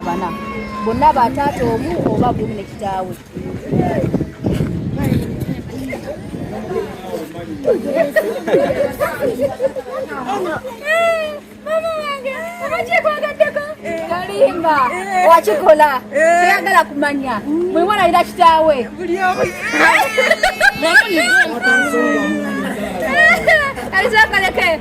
bana bonna ba taata omu oba gumu ne kitaawe kalimba wakikola teyagala kumanya mwewalalira kitaawe alizakaleke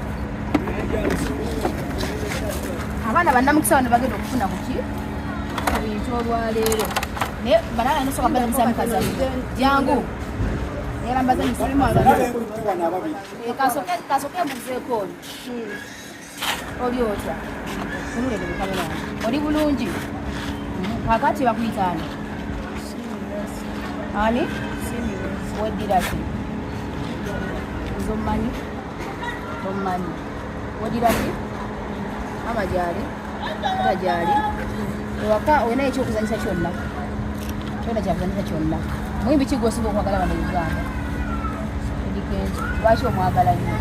abaana bannamukisa bano bagenda okufuna kuki ebintu olwaleero naye banana nosoka bana musamukaza jangu erambaza kasoke muzeeko oli oli otya oli bulungi kakati bakuyitaani ani weddira ki nze omumanyi tommanyi wodira ki ama gyali ata gyali ewaka olina ekyokuzanyisa kyonna kyona kyakuzanyisa kyonna muyimbi ki gwosinga okwagala bano uganda edikenzi lwaki omwagala nyo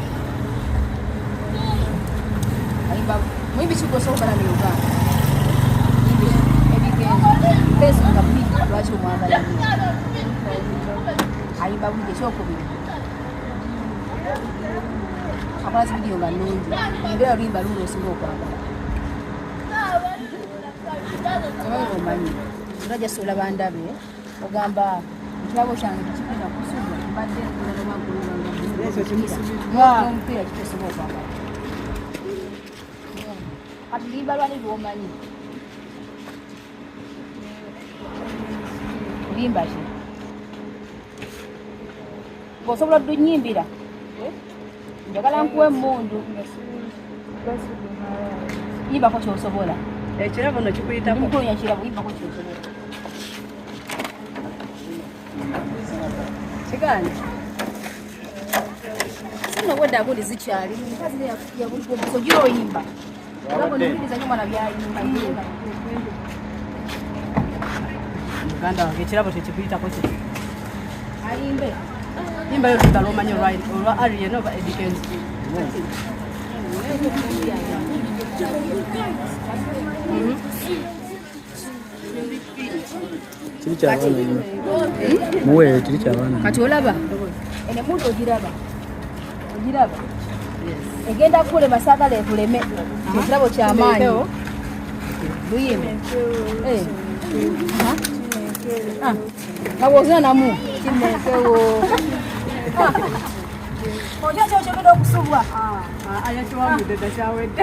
ayimba muyimbi ki gwosinga okwagala no uganda edikenzi nga buli lwaki omwagala nyo ayimba buli ekyokubiri akola zividiyo nga nungi era oluyimba luuno osinga okwagala omanyi omanyi era jasi olaba ndabe ogamba ekirabo kyange tekipita kusuga mbadde nkulalaomupiira kitesoba okwagala kati luyimba lwani lwomanyi Limbaji. Bosobola dunyimbira. Eh? Njagala nkuwe mundu. Iba ko kyosobola. Ekirabo no kikuyita ko. Nkunya kirabo iba ko kyosobola. Kigani. Sino wada guli zichali. Kazi ya ya guli ko kyoyimba. muganda wange ekirabo kyekikuyitako ki ayimbe yimba yo lutalo omanyi olwa arian oba edikenzi Mm-hmm. kiri kyabaana nnyo muweeyo kiri kyabaana kati olaba enemuntu ogiraba ogiraba egenda kukulema saagala ekuleme ekirabo kyamaanyi luyime eh. ah. kawozina namu kimekewo ah. ojo kyokyogenda okusubwa ah, ayakiwamudeda kyawedde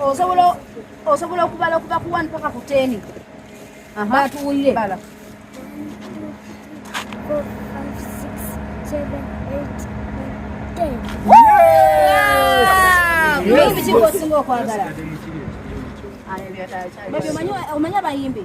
osobola osobola okubala okuva ku one paka ku ten batuwulire bala osinga okwagala omanyi abayimbi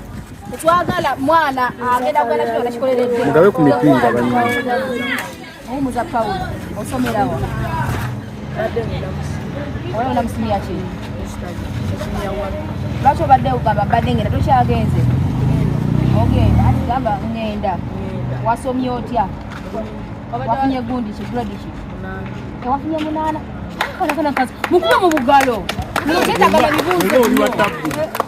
twagala mwana agenda kugala kino nakikoleredde mugabe ku mipinga banyuma muwumuza pawulo osomerawa oba onamusimya ki lwaki obadde ugamba mbadde ngenda tokyagenze ogenda ati gamba ngenda wasomye otya wafunye gundi ki grade ki ewafunye munaana kanakana kazi mukuba mu bugalo muketagala bibuuzo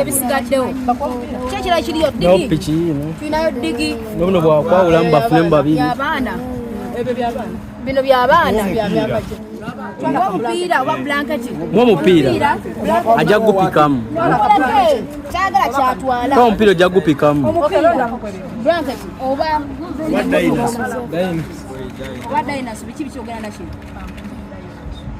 ebisigaddewo kyekira kiriyo tulinayo digi nobuno bwakwawulamu bafunemu babiri bino byabaana omupiira oba blanketi mwomupiira ajja kugupikamu kyagala kyatwala omupiira ojja kugupikamu blanketi oba oba dinosaur biki bikyogera nakino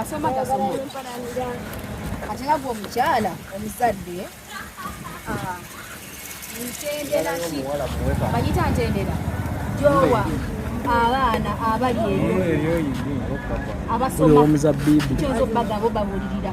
asoma gasoma kati nga gwe omukyala omuzadde ah, ntendera ki banyita ntendera gyowa abaana abali eyo abasomaomuzabbibu kyoza okubagamba obabulirira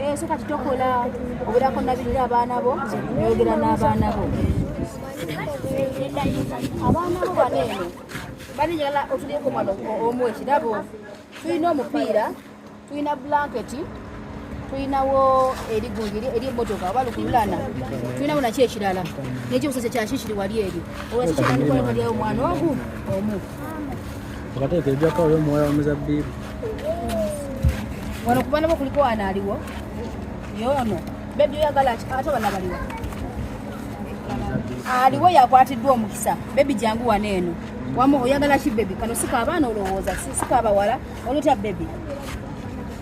Eh, so kati tokola obeerako nabirira abaana bo noyogera n'abaana bo abaana bo bano eno bali njagala otulieko mwana omu ekirabo tulina omupiira tulina blanketi tulinawo erigungi eri emotoka oba lukululana tulinawo naki ekirala nekyo busese kyakikiri wali eri olwakikiranikolekaliawo omwana ogu omu Akateeka ejjako oyo omuwala wa muzabbiibu. Wano kuba nabo kuliko ana aliwo. Yoono. Bebi oyagala ate abana baliwo. Aliwo yakwatiddwa omukisa. Bebi jangu wano eno. Wamu oyagala ki bebi kano sika abaana olowooza sika abawala olutya bebi.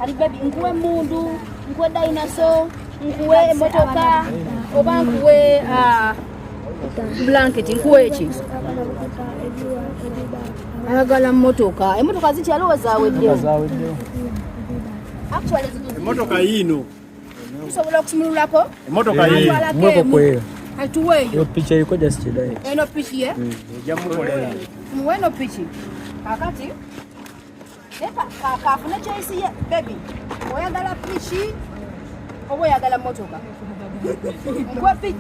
Ali bebi nkuwe mundu nkuwe dinosaur nkuwe emotoka oba nkuwe uh, bulanketi nkuwa eki ayagala motoka emotoka zikyaliwo zaweddewo emotoka yiino tusobola okusumululako emotoka yiino atuweeyo picha eriko just kidai eno piki ye ejamukolera muwe eno piki kakati kafune choice ye baby oyagala piki oba oyagala motoka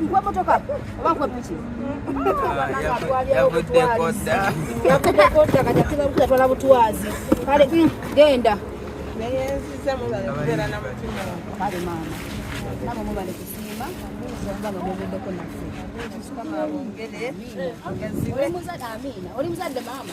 nkwemotoka oba nkwepiki yavuddekodda butwazi kale mm, genda kale maama nabo mubale kusiima oli muzadde maama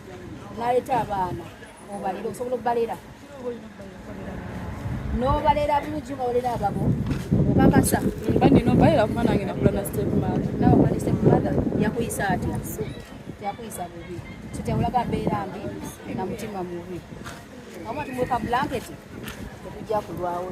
naleeta abaana obalira osobola okubalera nobalera bulungi ngabalera ababo okakasa baninobalera kuba nange nakula na step mother nawe okula ne step mother yakuyisa atya yakuyisa bubi so tewulaga mbeera mbi na mutima mubi amu ati mweka blanketi tekujja kulwawo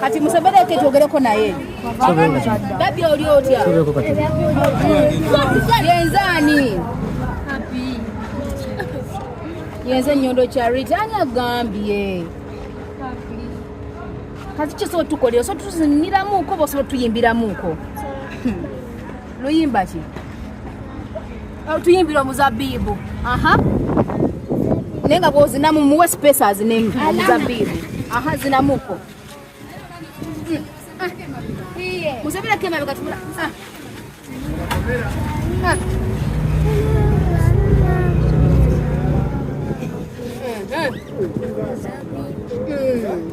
Kati musebere eke twogereko naye babi oli otya yenzaani yenze enyondo charity ani agambye kati kyo sobola tukolera osobola tuziniramuuko oba osobola tuyimbiramuuko luyimba ki tuyimbira omuzabibu aha naye nga bwozinamu muwe space azinemu omuzabibu aha zinamuko musabirako emabega tula Mm-hmm.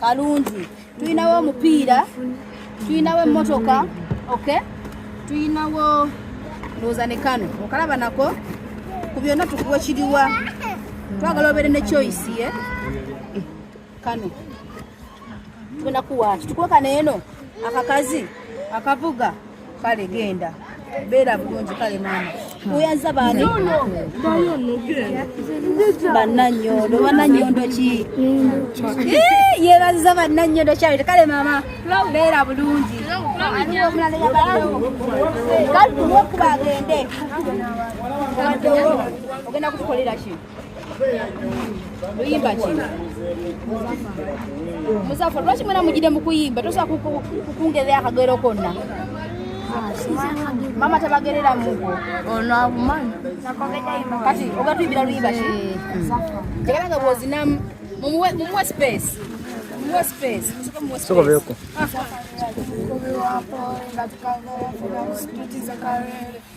kalungi tulinawo omupiira tulinawo emmotoka ok tulinawo ndowooza ne kano okalaba nako ku byonna tukuwa kiriwa twagala obeere ne choice ye kano tugenakuwaki tukuwe kano eno akakazi akavuga kale genda beera bulungi kale maama oyaza baani bananyondo bananyondo ki yebaziza bananyondo kyawete kale maama beera bulungi kale tuwe kuba agende ogenda kutukolera kino luyimba ki muzafa lwaki mwena mugide mukuyimba tosobola kukungerera akagero konna mama tabagerera mugo ono abumanyi kati ogatuimbira luyimba ki tegera nga bwozinamu mumuwe space mumuwe space sokobeeko ah.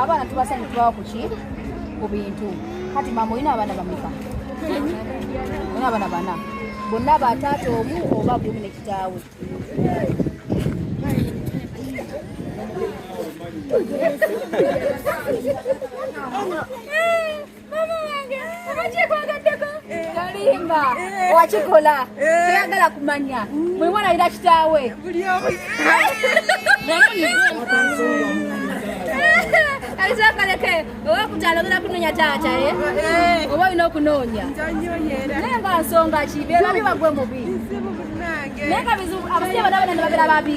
abaana tubasanye tubawa kuki ku bintu kati maama olina abaana bameka olina abaana bana bonna bataata omu oba bumi ne kitaawe Simba eh. wakikola eh. toyagala kumanya mwe mwanalira kitaawe alizakaleke oba kutalogera kunonya taata eh? oba olina okunoonya naye nga nsonga kibe babi bagwe mubi naye nga bizibu abasajja bana bana nibabera babi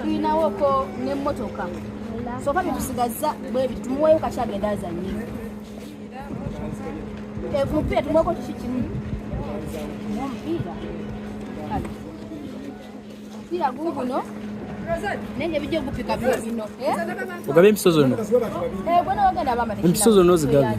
tulinawoko nemotoka soka byetusigaza bwebi tumuweyo kaki agenda azanye emupiira tumuweko kiki kimu omupiira omupiira guguno nenge bijja okupika bino eh? ogaba empiso zonna eh, empiso zonna ozigabye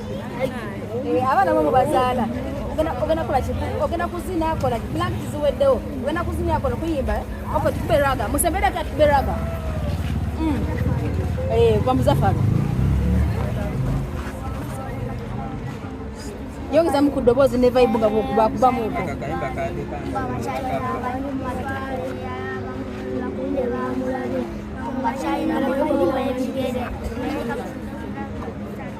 Eh, abaana bo mubazaala ogenda kola ki ogenda kuzina akola ki blank ziweddewo ogenda kuzina akola kuyimba ok tukube raga musembere ati tukube raga mm. eh, kwa muzafaro yongezamu ku ddoboozi ne vibe nga bakubamuuko Thank you.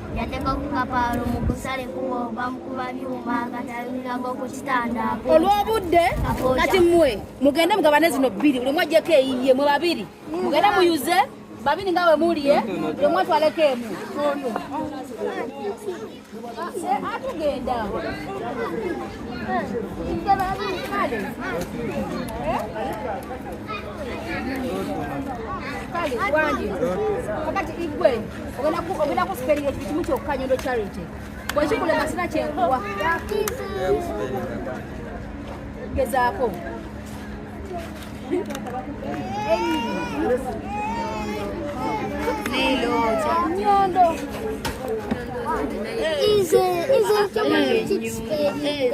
yateeka ku kapaalo mu kusale kubo bamukuba byuma katalinago ku kitanda olw'obudde kati mmwe mugende mugabane zino bbiri buli mwajjeko eyiye mwe babiri mugende muyuze babiri nga we muli e buli mwatwaleko emu atugenda kale wangi kakati igwe ogenda kusiperira ekintu kimu kyokka nyondo charity bwekikulema sina kyenkuwa gezaako nyondo Is it, is it,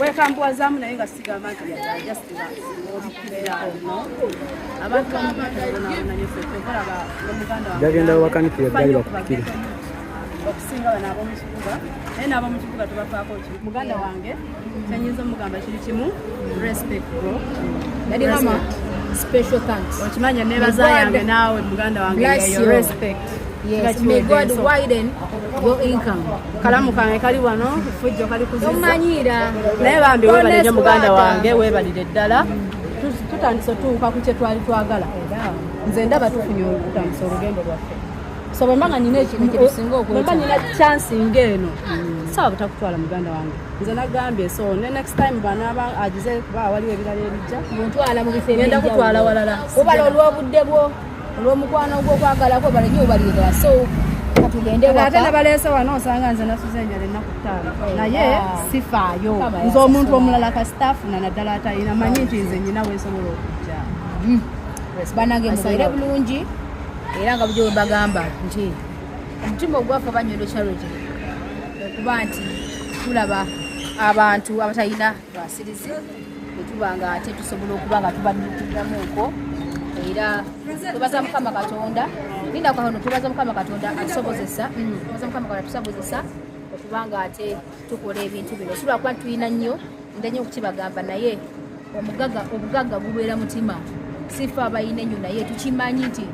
wekambuwazaamu naye nga sigamba nti jagenda wakanikira eddali bakupikire okusinga bano abomukibuga naye n'abomukibuga tubafaako ki muganda wange kyenyinza omugamba kiri kimu respect bro yali mama special thanks okimanya nebaza yange naawe muganda wange respect Yes, may God widen your income. Kalamu kange kali wano fujjo kali kuzisa. Omanyira. Naye bambi webale nyo muganda wange webalire ddala. Tutandise otuuka ku kye twali twagala. Nze ndaba tufunye okutandisa olugendo lwaffe. So bwe mbanga nina ekintu kyetusinga okwetaaga. Bwe mbanga nina chance ng'eno. Sawa butakutwala muganda wange. Nze nagambye so ne next time banaaba agize kuba waliwo ebirala ebijja. Ntwala mu bifo ebijja. Ngenda kutwala walala. Kubala olw'obudde bwo. olw'omukwano ogw'okwagala kwe balanye obalirira so atenabaleese wano osanga nze nasuza enjala ennaku ttaano eh, naye ah. sifaayo nze omuntu omulala kasita afuna naddala atalina manyi nti nze nyina wesobola okujja hmm. banange mubeere bulungi era nga bujo webagamba nti omutima ogwaffe banyondo charity okuba nti tulaba abantu abatalina twasirize bwetuba nga ate tusobola okuba nga tubaddukiramu nko era tubaza mukama katonda ninda kwano tubaza mukama katonda atusobozesa mm, tubaza mukama katonda tusobozesa okuba nga ate tukola ebintu bino tulwa kuba tulina nnyo ndenyo okukibagamba naye omugaga obugagga gubeera mutima sifa abalina ennyo naye tukimanyi nti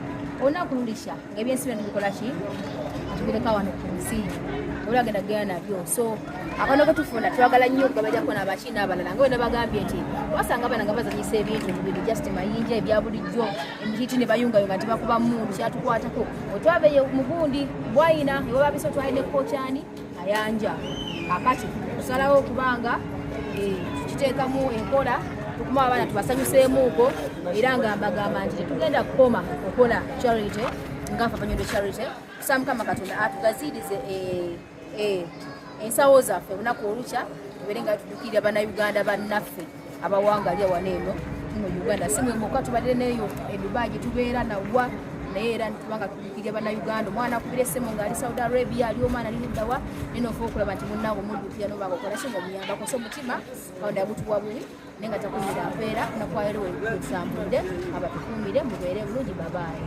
olunaku lulisha ebyensi bino tubikola ki tubireka wano ku nsi ola agenda kugenda nabyo so abaana betufuna twagala nnyo okugabajako nabaki n'abalala nga wena bagambye nti wasanga abaana nga bazanyisa ebintu mubiri just mayinja ebya bulijjo emihiti ne bayungayunga nti bakuba mundu kyatukwatako otwabeyo mugundi bwayina ewababisa otwalina ekkokyani ayanja akati kusalawo okubanga eh, kiteekamu enkola okuma abaana tubasanyuseemuuko era nga mbagamba nti tetugenda kukoma okola charity ngafa banyodo charity kusa mukama katonda atugaziirize eh, eh, ensawo zaffe olunaku olukya tubeere nga tudukirira banauganda bannaffe abawangalya wano eno mu uganda si mwemuka tubadde neyo edubai gyetubeera nawa naye era nitubanga tubikiria banauganda omwana akubira esimu ngaali saudi arabia ali omwana liluddawa nina ofa okulaba nti munange omuddukira nobanga okola si ngaomuyambako so omutima kaonda yagutuwa bubi naye nga takumira mpeera nakwayiriwo ebisambude abatukumire mubeere bulungi babaayi